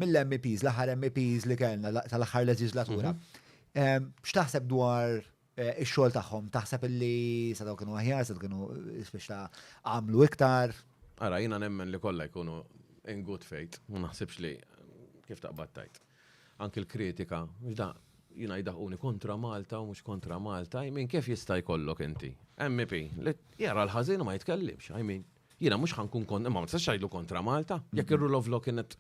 mill-MEPs, l-aħħar MEPs li kellna tal-aħħar leġislatura. Ehm, x'taħseb dwar eh, ix-xogħol tagħhom? Taħseb illi sa daw kienu aħjar, sa kienu biex ta' għamlu iktar? Ara, jiena nemmen li kollha jkunu in good faith, ma naħsibx li kif taqbad tajt. Anki l-kritika, ġda, jina jidaħuni kontra Malta u mux kontra Malta, jmin kif jista' jkollok inti? MEP, li jara l-ħazin ma jitkellimx, jmin. Jiena mhux ħa nkun kontra, imma ma tistax tgħidlu kontra Malta, jekk ir-rule of law kienet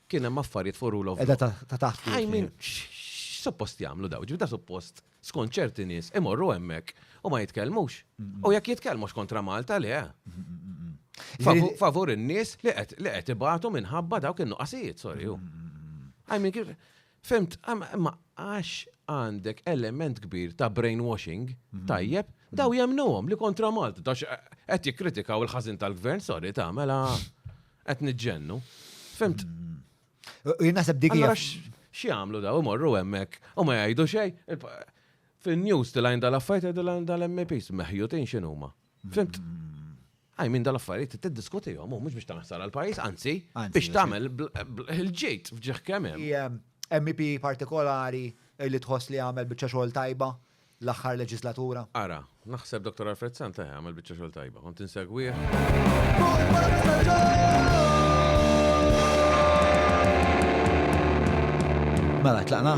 kien hemm affarijiet fuq rule of law. Edha ta' taħt. I mean, suppost jagħmlu daw, ġibda suppost skont ċerti nies imorru hemmhekk u ma jitkellmux. U jekk jitkellmux kontra Malta le. Favur in-nies li qed ibatu minħabba dawk in-nuqqasijiet, sorry. I mean, Fimt, imma għax għandek element kbir ta' brainwashing, mhm. tajjeb, mhm. daw jemnuhom li kontra Malta, dax qed jikkritikaw il-ħażin tal-gvern, sorry ta' mela qed niġġennu. Fimt. Mhm. Jinasab dik hija. Xi għamlu daw imorru hemmhekk u ma jgħidu xejn. Fin-news tilgħin dal-affajt dal-MPs meħjutin x'inhuma. Fimt? Għaj minn dal-affarijiet t-diskuti jom, mux biex taħsar għal-pajis, anzi, biex tamel il-ġejt fġieħ kemem. MEP partikolari li tħoss li għamel bieċa xogħol tajba l-aħħar leġislatura. Ara, naħseb Dr. Alfred Santa eh, għamel bieċa xogħol tajba, kont insegwih. Mela, tlaqna.